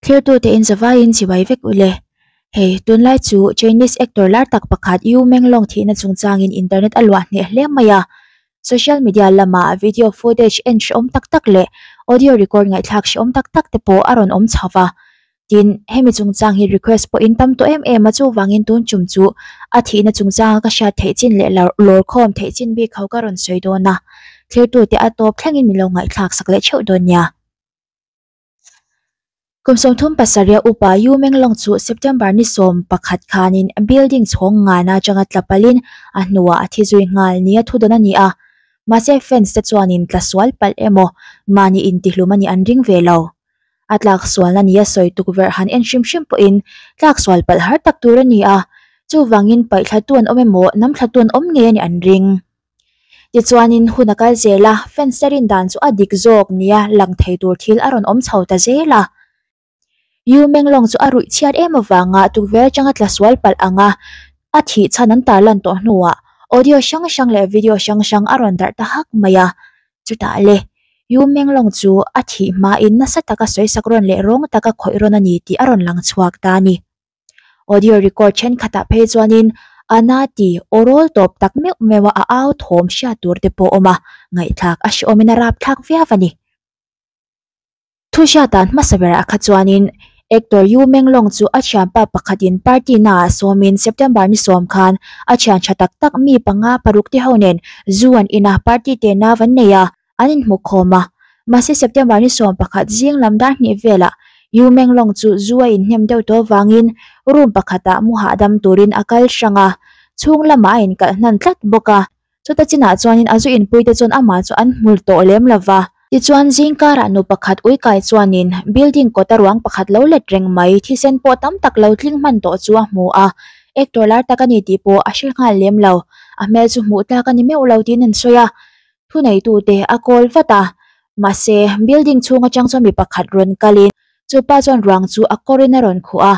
Thirtu te in zavai in chibai vek u le. Hei, tunlai chu Chinese actor lar tak pakhat Yu Menglong thihna chung chang in internet a luah hneh hle mai a. Social media lam ah video footage en hre awm tak tak leh audio record ngaihthlak hre awm tak tak te pawh a rawn awm chho va. tin hemi chungchang hi request pawhin tam tawh em em a chuvangin tun chum chu a thihna chungchanga ka hriat theih chin leh lar lawr khawm theih chin bik ho ka rawn sawi dawn a thirtute a tawp thlengin min lo ngaihthlak sak leh theuh dawn nia. Kum sawmthum pasarih upa U Menglawng chu September ni sawm pakhat khanin building chhawng ngan atanga tla palhin a hnuah a thi zui nghal nia thu dawn a ni a, mahse fans te chuanin tla sual palh emaw mahni intihlum a nih an ring ve lo. a tlaksual na nia sawi tukverh han en hrim hrim pawhin tlaksual palh har tak tur a ni a, chuvangin paihthlatu an awm emaw namthlatu an awm ngei a nih an ring. Tichuanin hun a kal zel a, fence te rin dan chu a dik zawk nia lang thei tur thil a rawn awm chho ta zel a. U Menglawng chu a ruih chhiat em avanga tukverh atanga tlasual palh anga a thih chhan an tarlan tawh hnuah audio hrang hrang leh video hrang hrang a rawn darh ta hak mai a, Chutah le, Yu Menglong chu a thih hmain nasa taka sawisak rawn leh rawng taka khawih rawn a ni tih a rawn lang chhuak ta a ni. Audio record thenkhatah phei chuanin Ana ti aw rawl tawp tak meuh meuh a a au thawm hriat tur te pawh awm a, ngaihthlak a hre awmin a rapthlak viau a ni. Thu hriatah hmasa berah a kha chuanin Actor Yu Menglong chu a thianpa pakhatin party naah sawmin September ni sawm khan a thian tha tak tak mi panga parukte ho nen zu an in a, party te nau an nei a, an inhmukhawm a. Mahse September ni sawm pakhat zing lam dar hnih velah Yu Menglong chu zu a inhnem deuh tawh vangin room pakhatah mu hahdam turin a kal hrang a, chhung lamah a inkalh hnan tlat bawk a. Chuta chinah chuanin a zu inpuite chuan amah chu an hmul tawh lem lo va. Tichuan zingkarah nu pakhat uikai chuanin building kawta ruang pakhat lo let reng mai, thisen pawh tam tak lo tling hman tawh chu a hmu a. Actor lar tak a ni tih pawh a hre nghal lem lo. A hmel chu hmuh tlak a ni meuh lo tiin an sawi a. Thuneitute a call vat a, mahse, building chhung atang chuan mi pakhat rawn kalin chupa chuan ruang chu a kawrin a rawn khuh a,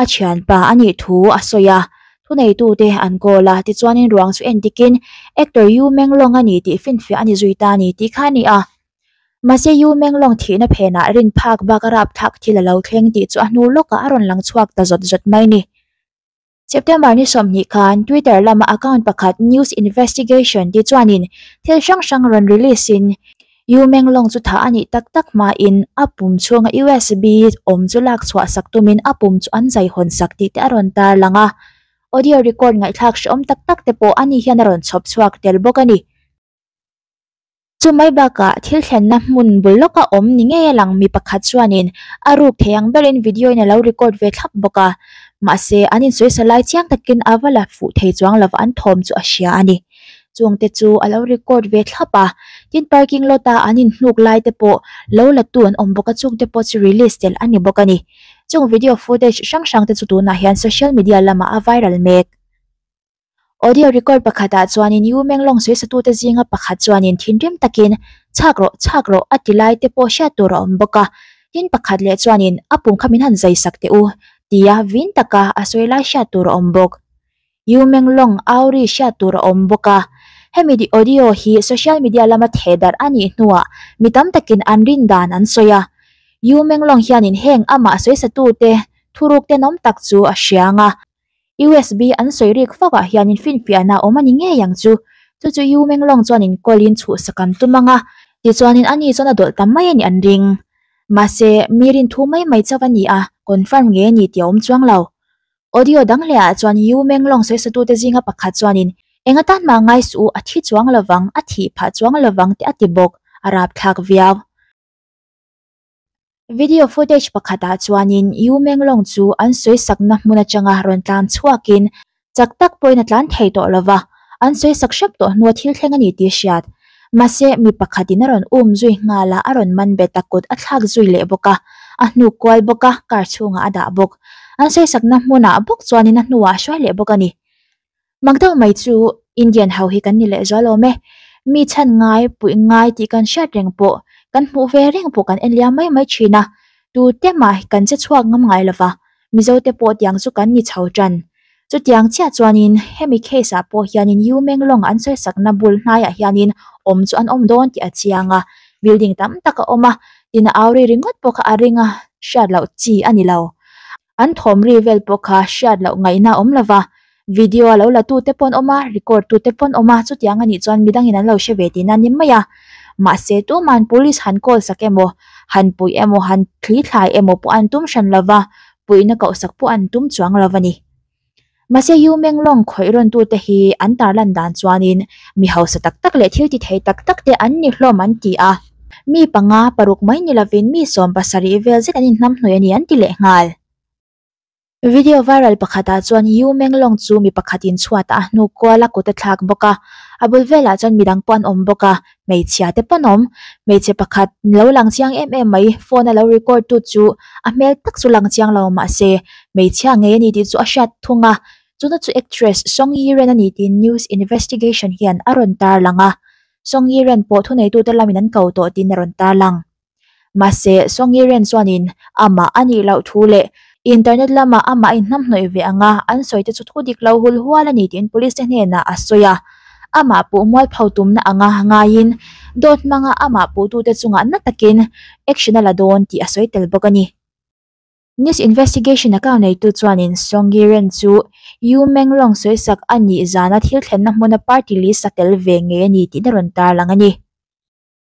a thianpa a nih thu a sawi a, thuneitute an goal a, tichuanin ruang chu en dikin Actor U Meng Long a ni tih finfiah a ni zui ta a ni tih kha a ni a. Mahse U Meng Long thihna phenah rin phak bak a rapthlak thil a lo thleng tih chu a hnu lawkah a rawn lang chhuak ta zawt zawt mai ni. September ni sawmhnih khan Twitter lama account pakhat News Investigation tih chuanin thil hrang hrang rawn release in U Menglawng chu tha a nih tak tak hmain a pum chhunga USB awm chu lak chhuah sak tumin a pum chu an zai hawn sak tih te a rawn tar lang a. Audio record ngaihthlak hrehawm tak tak te pawh ani hian a rawn chhawp chhuak tel bawk a ni. Chu mai bakah thil thlenna hmun bul lawka awm ni ngei a lang mi pakhat chuanin a ruk thei ang berin video in a lo record ve thlap bawk a. Mahse an insawi sa lai chiang takin a va la fuh thei chuang lova an thawm chu a hria a ni. chuangte chu a lo record ve thlap a, tin parking lot a an in hnuk lai te pawh lo la tu an awm bawk a, chungte pawh chu release tel a ni bawk a ni. Chung video footage hrang hrang te chu tunah hian social media lamah a viral mek. Audio record pakhatah chuanin U Menglawng sawisatute zinga pakhat chuanin thinrim takin chhak rawh, chhak rawh a ti lai te pawh hriat tur a awm bawk a, tin pakhat leh chuanin a pumkha min han zai sak teh u tia vin taka a sawi lai hriat tur a awm bawk. U Menglawng auri hriat tur a awm bawk a, hemi audio hi social media lama theh darh a nih hnuah mi tam takin an rindan an sawi a. U Menglawng hianin heng amah sawisatute thuruk tel awm tak chu a hria ang a, usb an sawi rik fauhah hianin finfiahna a awm a ni ngei ang chu. Chu chu U Menglawng chuanin call-in chhuhsak an tum ang a, tichuanin ani chuan a dawlh ta mai a nih an ring. Mahse, mi rinthu mai mai chauh a ni a, confirm ngei a ni tih a awm chuang lo. Audio dang lehah chuan U Menglawng sawisatute zinga pakhat chuanin Enga tan mah ngai suh u, a thi chuang lovang, a thih phah chuang lovang tih a ti bawk, a rapthlak viau. Video footage pakhatah chuanin U Menglawng chu an sawisakna hmun atanga rawn tlan chhuakin chak tak pawhin a tlan thei tawh lova, an sawisak hrep tawh hnu a thil thleng a ni tih a hriat. Mahse, mi pakhatin a rawn um zui nghal a, a rawn man bet a, kut a thlak zui leh bawk a, a hnu kual bawk a, car chhungah a dah bawk. An sawisakna hmunah bawk chuanin a hnuah a hruai leh bawk a ni. Mak deuh mai chu Indian ho hi kan ni leh zual awm e. Mi chhan ngai, puih ngai tih kan hriat reng pawh, kan hmuh ve reng pawh kan en liam mai mai thin a, tute mah kan che chhuak ngam ngai lo va. Mizo te pawh tiang chu kan ni chho tan. Chutiang chiah chuanin hemi case ah pawh hianin U Menglawng an sawisakna bul hnaiah hianin awm chu an awm dawn tih a chiang a. Building tam tak a awm a, tina auri ringawt pawh kha a ring a, hriat loh chi a ni lo. An thawmri vel pawh kha hriat loh ngaihna a awm lo va, Video a lo la tu te pawn awm a, record tu te pawn awm a, chutiang a nih chuan midang in an lo hre ve tih nan em mai a. Mahse, tuma'n Police han call sak emaw, han puih emaw, han thli thlai emaw pawh an tum hran lo va, puihna koh sak pawh an tum chuang lo a ni. Mahse, U Menglawng khawih rawn tu te hi an tar lan dan chuanin mi hausa tak tak leh thil ti thei tak tak te an ni hlawm an ti a, mi panga paruk mai ni lovin mi sawm pasarih vel zet an in hnam hnawih a ni an ti leh nghal. Video viral pakhatah chuan Yu Menglong chu mi pakhatin chhuat a hnu kual a kut a thlak bawk a, a bul velah chuan midang pawh an awm bawk a, hmeichhia te pawn awm. Hmeichhe pakhat lo lang chiang em em mai, phone a lo record tu chu a hmel tak chu lang chiang lo mah se, hmeichhia ngei a ni tih chu a hriat thung a. Tuna chu actress Song Yiren a ni tiin news investigation hian a rawn tarlang a, Song Yiren pawh thuneitute lamin an ko tawh tiin a rawn tarlang. Mahse, Sawngii Ren chuanin amah a nih loh thu leh internet lama amah in hnamhnawih ve anga an sawite chu thu dik lo hul hual a ni tiin police te hnenah a sawi a. Amah puh mualpho tumna anga ngaiin dawt hmanga amah puhtute chungah na takin action a la dawn tih a sawi tel bawk a ni. Nice investigation a kau neitu chuanin Sawngii Ren chu U Menglawng sawisak a nih zana thil thlenna hmuna party list a tel ve ngei a ni tihna rawn tarlang a ni.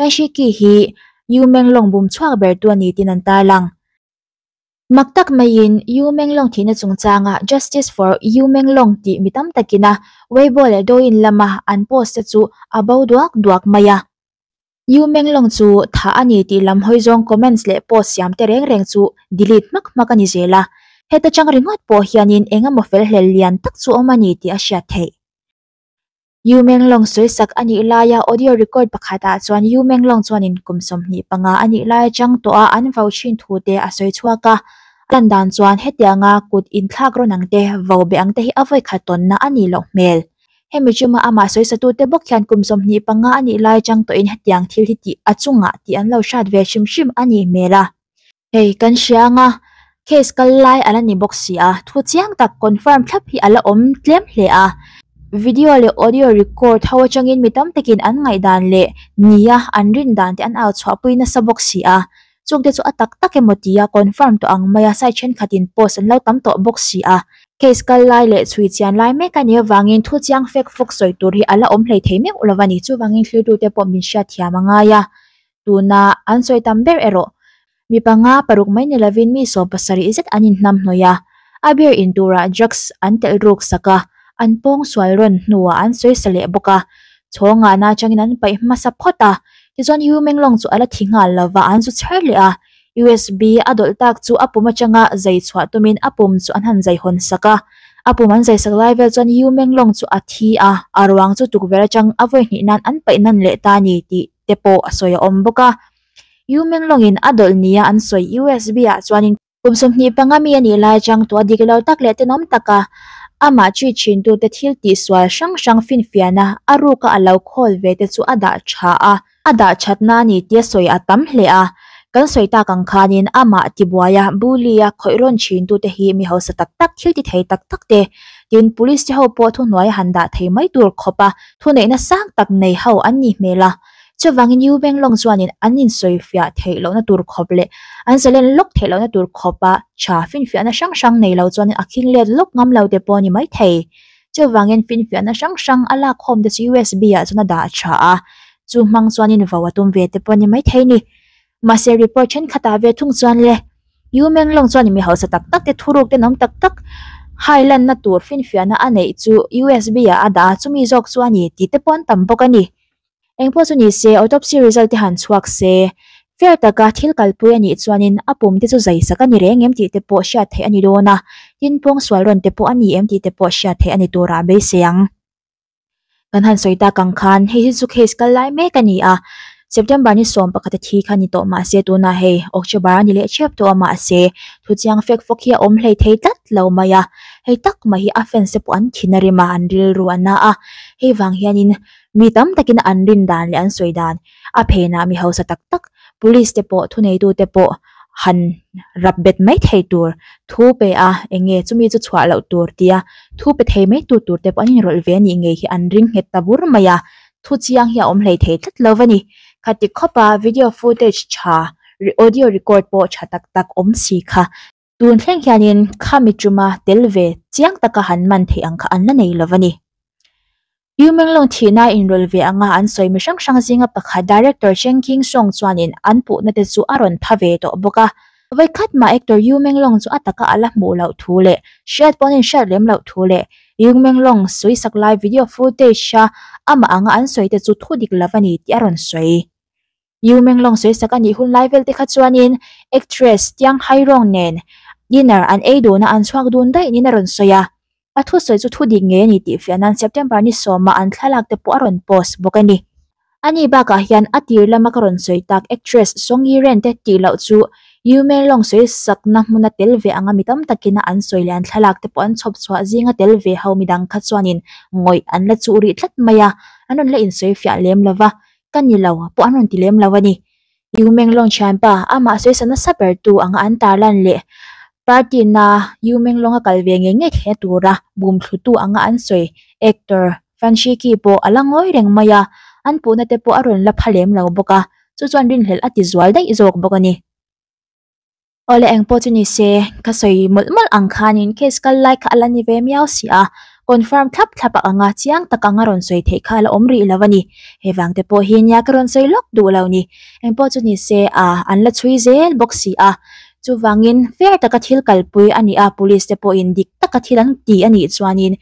Kaishiki hi U Menglawng bum chhuak bertu a ni tiin an tarlang. Mak tak maiin U Menglawng thihna chungchanga Justice for U Menglawng tih mi tam takina Weibo leh Douyin lama an post-a chu a bo duak duak mai a. U Menglawng chu thah a ni tih lam hawi zawng comments leh post siam te reng reng chu delete hmak hmak a ni zel a. Heta chang ringawt pawh hianin engemaw felhlel lian tak chu awm a ni tih a hriat theih. U Menglawng sawisak a nih laia audio record pakhatah chuan U Menglawng chuanin kum sawmhnih panga a nih lai atang tawha an vau thin thute a sawi chhuak a. A lan dan chuan hetianga kut inthlak rawn ang te, vau beh ang te hi a vawikhat tawnna a nih loh hmel. Hemi ṭima amah sawisatute bawk hian kum sawmhnih panga a nih lai atang tawhin hetiang thil hi tih a chungah tih an lo hriat ve hrim hrim a nih hmel a. Hei kan hria anga case kal lai a la ni bawk si a, thu chiang tak confirm thlap hi a la awm tlem hle a. Video leh audio record ho atangin mi tam takin an ngaihdan leh nia an rindan te an au chhuah pui nasa bawk si a, chung te chu a tak tak emaw tia confirm tawh ang mai a site thenkhatin post an lo tam tawh bawk si a. Case kal lai leh chhui chian lai mek a ni avangin thu chiang fake fawk sawi tur hi a la awm hleithei meuh lo a ni, chuvangin thlir tute pawh min hriatthiam a ngai a. tuna an sawi tam ber erawh mi panga paruk mai ni lovin mi sawm pasarih zet an inhnam hnawih a, a beer in turah drugs an telh ruk sak a, an pawng sual rawn hnuah an sawisa leh bawk a, chhawng ngahna atangin an paih hmasa phawt a, tichuan Yu Menglawng chu a la thi nghal lova an zu chher leh a, usb a dawlh tak chu a pum atanga zai chhuah tumin a pum chu an han zai hawn sak a, a pum an zai sak lai vel chuan Yu Menglawng chu a thi a, a ruang chu tukverh atang a vawi hnih nan an paih nan leh ta a ni tih. te pawh a sawi a awm bawk a, U Menglawngin a dawlh nia an sawi, USBah chuanin. Kum sawmhnih panga mi a nih lai chang tawh a, dik lo tak leh tenawm taka amah chit chhintute thil tihsual hrang hrang finfiahna a ruka a lo khawl ve te chu a dah tha a, a dah thatna a ni tia sawi a tam hle a, kan sawi tak ang khanin amah tibuaia, bully-a khawih rawn chhintute hi mi hausa tak tak, thiltithei tak tak te, tin, police te ho pawh thuhnuai a han dah thei mai tur khawp a, thuneihna sang tak nei ho an nih hmel a. Chuvangin U Meng Long chuanin an insawifiah theih lohna tur khawp leh an zalen lawk theih lohna tur khawpa tha finfiahna hrang hrang nei lo chuanin a khing let lawk ngam lo te pawh ni mai thei. Chuvangin finfiahna hrang hrang a lakhawm te chu USB-ah chuan a dah a tha a, chu hmang chuanin vau a tum ve te pawh ni mai thei ni. Mahse report thenkhatah ve thung chuan le U Menglawng chuan mi hausa tak tak te thuruk te nawm tak tak hai lanna tur finfiahna a neih chu usb ah a dah a, chumi zawk chu a ni tihte pawh an tam bawk a ni. Engpawh chu ni se, autopsy result te han chhuak se. Fair taka thil kalpui a nih chuanin a pum te chu zaisak a ni reng em tihte pawh hriat theih a ni dawn a, tin pawng sual rawn te pawh a ni em tihte pawh hriat theih a ni tur ah beisei ang. Kan han sawi tak ang khan hei hi chu case kal lai mek a ni a, September ni sawm pakhat a thi kha ni tawh mah se tunah hei October a ni leh chep tawh a mah se, thu chiang fek fawk hi a awm hlei thei tlat lo mai a, hei tak mai hi a fans-e pawh an thin a rim a, an rilru a na a, hei vang hianin mi tam takin an rin dan leh an sawi dan. a phenah mi hausa tak tak police te pawh thuneitu te pawh han rap bet mai thei tur thu pe a eng nge chumi chu chhuah loh tur tia thu pe thei mai tu tur te pawh an inrawlh ve a nih ngei hi an ring nghet ta bur mai a thu chiang hi a awm hlei thei tlat lo a ni kha ti khawp a video footage tha audio record pawh tha tak tak awm si kha. Tun thleng hianin khami tuma tel ve chiang taka han man theih ang kha an la nei lo a ni. U Menglawng thihna inrawl ve anga an sawi mi hrang hrang zinga pakhat Director Cheng King Sawng chuanin an puhna te chu a rawn tha ve tawh bawk a. Vawi khat mah Actor U Menglawng chu a taka a la hmuh loh thu leh hriat pawhin an hriat lem loh thu leh U Menglawng sawi sak lai video footage a amah anga an sawi te chu thu dik lo a ni tih a rawn sawi U Menglawng sawisak a nih hun lai velte kha chuanin actress Tianghairawng nen dinner an ei dun a an chhuak dun daih niin a rawn sawi a. A thusawi chu thu dik ngei a ni tih fiah nan September ni sawma an thlalak te pawh a rawn post bawk a ni. A ni bakah hian a tir lama ka rawn sawi tak actress Song Yi Ren te tih loh chu U Menlawng sawisakna hmuna tel ve anga mi tam takin a an sawi leh an thlalak te pawh an chhawp chhuah zinga tel ve ho midang kha chuanin ngawih an la chuh rih tlat mai a, an rawn la insawi fiah lem lova. ka ni lo pawh an rawn ti lem lo a ni. U Meng Long thianpa amah sawi sa nasa ber tu ang an tarlan leh party na U Meng Long a kal ve ngei ngei thei na tura bum thlu tu ang a an sawi actor Fan Shiki pawh a la ngawi reng mai a, an puhna te pawh a rawn la pha lem lo bawk a, chu chuan rinhlelh a ti zual daih zawk bawk a ni. Awle eng pawh chu ni se, ka sawi mawlh mawlh ang khanin case kal lai kha a la ni ve miau si a, confirm thlap thlap a ang a, chiang tak anga rawn sawi theih kha a la awm rih lo a ni. He vang te pawh hi nia ka rawn sawi lawk duh lo ni. Eng pawh chu ni se a, an la chhui zel bawk si a, chuvangin fair taka thil kalpui a ni a, police te pawhin dik taka thil an ti a nih chuanin,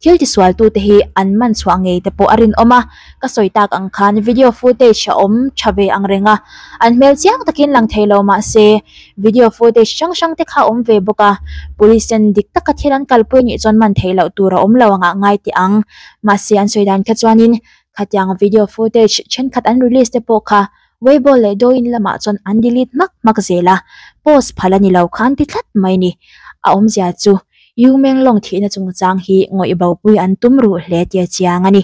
Thil tisualtute hi an man chhuah ngei te pawh a rinawm a, ka sawi tak ang khan video footage a awm tha ve ang reng a, an hmel chiang takin lang thei lo mah se video footage hrang hrang te kha a awm ve bawk a, police hian dik taka thil an kalpui anih chuan man thei loh tur a awm lo angah ngai teh ang, mahse an sawi dan kha chuanin khatianga video footage thenkhat an release te pawh kha Weibo leh Douyin lamah chuan an delete hmak hmak zel a, post phalh a ni lo khan ti tlat mai ni. A awmzia chu U Menglawng thihna chungchang hi ngawih bopui an tum ruh hle tia chiang a ni.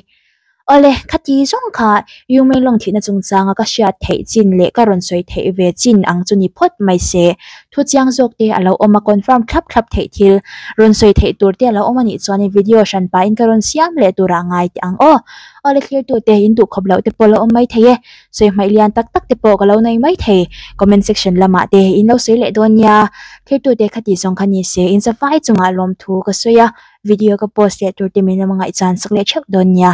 Awle, khati zawng kha U Menglawng thihna chungchanga ka hriat theih chin leh ka rawn sawi theih ve chin ang chu ni phawt mai se. Thu chiang zawk te a lo awm a, confirm thlap thlap theih thil, rawn sawi theih tur te a lo awm a nih chuanin video hran pahin ka rawn siam leh turah ngai teh ang aw. Awle thlir tute in duh khawp loh te pawh a lo awm maithei e. sawi hmaih lian tak tak te pawh ka lo nai mai thei comment section lamah te in lo sawi leh dawn nia thiltu te khati zawng kha ni se insofai chungah lawmthu ka sawi a video ka post leh tur te min lo ngaihchhan sak leh theuh dawn nia.